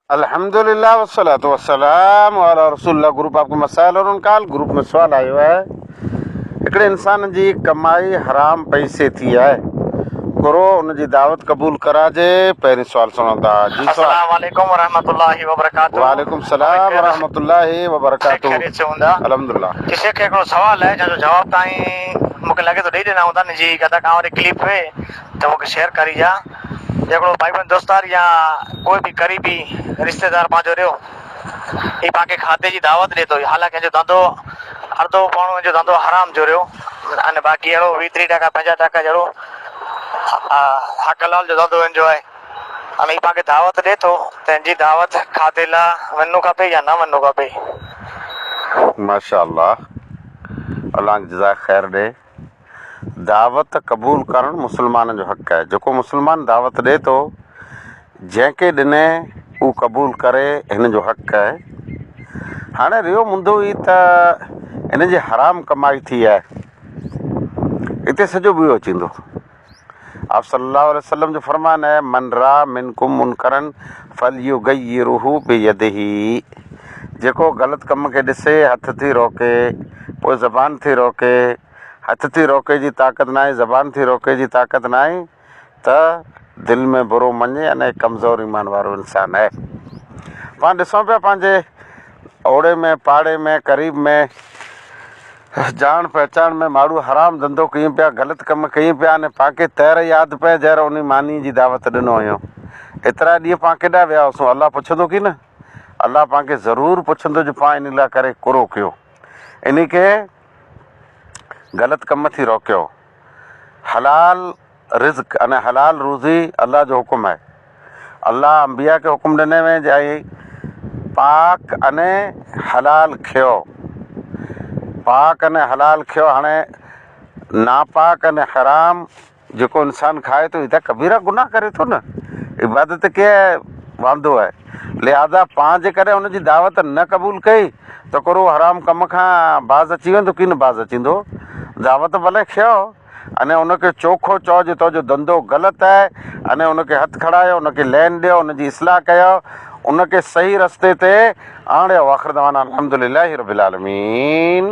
الحمد لله والصلاه والسلام علي رسول الله گروپ آپ کو مسائل اور ان کال گروپ ۾ سوال آيو آهي هڪڙي انسان جي ڪمائي حرام پئسي ٿي آهي گرو ان جي دعوت قبول ڪراجي پهرين سوال سڻو ٿا جي سوال السلام عليڪم ورحمة الله وبرڪاته وعليڪم السلام ورحمة الله وبرڪاته سڀ خيريت سان هوندا الحمد لله جي شيخ هڪڙو سوال آهي جنهن جو جواب تائين مونکي لڳي ٿو ڏئي ڏنا هوندا نجي ڪٿا ڪانء واري ڪليپ ۾ ته مونکي شيئر ڪريجا جي ڪو ڀائيبند دوستار يا ڪوئي به قريبي رشتيدار پنهنجو ريو هي پاڪي کاڌي جي دعوت ڏي ٿو حالانڪه هن جو ڌنڌو اڙدو پوڻو هن جو ڌنڌو حرام جو ريو ان باقي اهڙو ويهه ٽيهه ٽڪا پنجاهه ٽڪا جهڙو حق حلال جو ڌنڌو هن جو آهي ان هي پاڪي دعوت ڏي ٿو ته هن جي دعوت کاڌي لا وڃڻو کپي يا نه وڃڻو کپي. ماشاء الله الانگ جزاء خير ڏي. دعوت قبول ڪرڻ مسلمانن جو حق آهي. جيڪو مسلمان دعوت ڏئي ٿو، جنهن کي ڏني هو قبول ڪري هن جو حق آهي. هاڻي رهيو مدو هي ته هن جي حرام ڪمائي ٿي آهي. هتي سڄو ٻيو اچي ويندو. آپّ صلّي اللّٰه عليه وسلّم جو فرمان آهي، من راء منڪم منڪرا فليغيره بيده، جيڪو غلط ڪم کي ڏسي، هٿ ٿي روڪي، پوء زبان ٿي روڪي، هٿ ٿي روڪي جي طاقت ناهي، زبان ٿي روڪي جي طاقت ناهي ته دل ۾ برو مڃي ان هڪ ڪمزور ايمان وارو انسان آهي. پاڻ ڏسون پيا پنهنجي اوڙي ۾ پاڙي ۾ قريب ۾. جاڻ پهچاڻ ۾ ماڙهو حرام ڌنڌو ڪيون پيا، غلط ڪم ڪيون پيا ۽ پانکي تهر ياد پئي جهر انهي مانيء جي دعوت ڏنو هيون. ايترا ڏينهن پان ڪيڏانهن ويا هئسون؟ الله پڇندو ڪي نه؟ الله پان کي ضرور پڇندو جو پان انهي لاء ڪري ڪرو ڪيو. انهي کي غلط ڪم ٿي روڪيو. حلال رزق يعني حلال روزي الله جو حڪم آهي. الله انبياء کي حڪم ڏني وئي جي اي پاڪ يعني حلال کيو پاڪ يعني حلال کيو هاڻي ناپاڪ يعني حرام جيڪو انسان کائي ٿو هي ته ڪبيرا گناهه ڪري ٿو نه عبادت کي واندو آهي لهذا پان جيڪڏهن ان جي دعوت نه قبول ڪئي ته ڪرو حرام ڪم کان باز اچي ويندو ڪين باز اچيندو دعوت ڀلي کيو انهيء ان کي چوکو چئو جو تنهنجو ڌنڌو غلط آهي. انهيء ان کي هٿ کڻايو، ان کي لين ڏيو، ان جي اصلاح ڪيو، ان کي صحيح رستي تي آڻيو. واخر دعوانا ان الحمد لله رب العالمين.